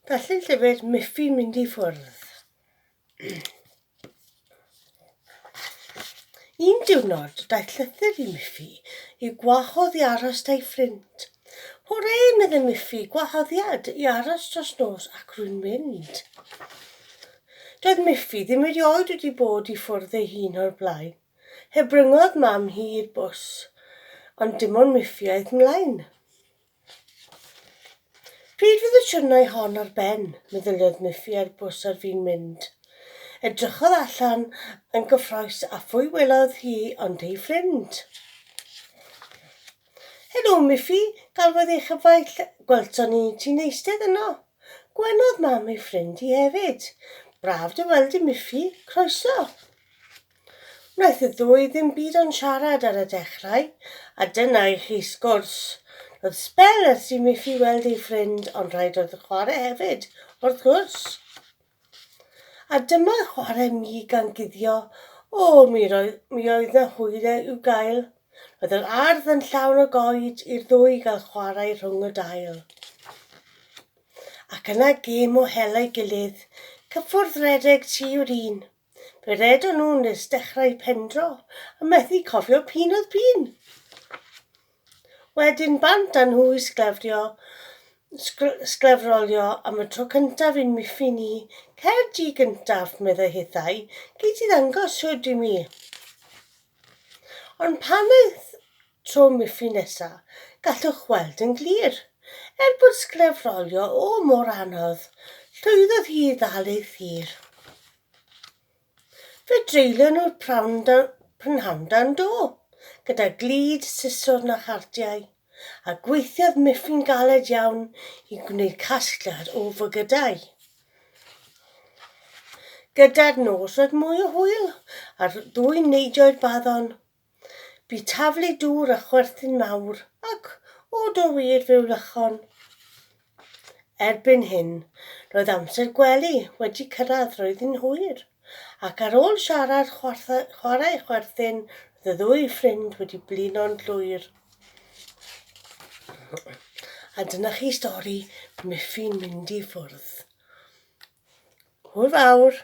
Darllen llyfr Miffy mynd i ffwrdd. Un diwrnod, daeth llythyr i Miffy i gwahodd i aros da'i ffrind. Hwre, meddai Miffy, gwahoddiad i aros dros nos ac rwy'n mynd. Doedd Miffy ddim erioed wedi bod i ffwrdd ei hun o'r blaen. Hebryngodd mam hi i'r bws, ond dim ond Miffy aeth mlaen. Pryd fydd y siwrnai hon ar ben? meddyliodd Miffy ar bws ar fin mynd. Edrychodd allan yn gyffrous a phwy welodd hi ond ei ffrind. Helo, Miffy, galwodd ei chyfaill, gwelson ni ti'n eistedd yno. Gwenodd mam ei ffrind hi hefyd. Braf dy weld di, Miffy, croeso. Wnaeth y ddwy ddim byd ond siarad ar y dechrau, a dyna i chi sgwrs. Roedd sbel ers i Miffy weld ei ffrind, ond rhaid oedd chwarae hefyd, wrth gwrs. A dyma chwarae mi gan guddio, o, mi, roi, mi oedd na hwyl e i'w gael. Roedd yr ardd yn llawn o goed i'r ddwy gael chwarae rhwng y dail. Ac yna gêm o hela'i gilydd, cyffwrdd redeg ti yw'r un. Fe redon nhw nes dechrau pendro a methu cofio p'un oedd p'un. Wedyn bant â nhw i sglefrio, sglefrolio am y tro cyntaf i'n miffin i, Cer di gyntaf, meddai hithau, gei di ddangos shwd i mi. Ond pan aeth tro Miffy nesa, gallwch weld yn glir. Er bod sglefrolio o mor anodd, llwyddodd hi i ddal ei thir. Fe dreulio nhw'r prynhawn dan do, gyda glud, siswrn a chardiau, a gweithiodd Miffy'n galed iawn i gwneud casgliad o fygydau. Gyda'r nos roedd mwy o hwyl, a'r ddwy neidioi'r baddon Bu taflu dŵr a chwerthin mawr ac, o do wir, fe wlychon. Erbyn hyn, roedd amser gwely wedi cyrraedd, roedd hi'n hwyr, ac ar ôl siarad, chwarae a chwerthin, roedd y ddwy ffrind wedi blino'n llwyr. A dyna chi stori Miffy'n mynd i ffwrdd. Hwyl fawr!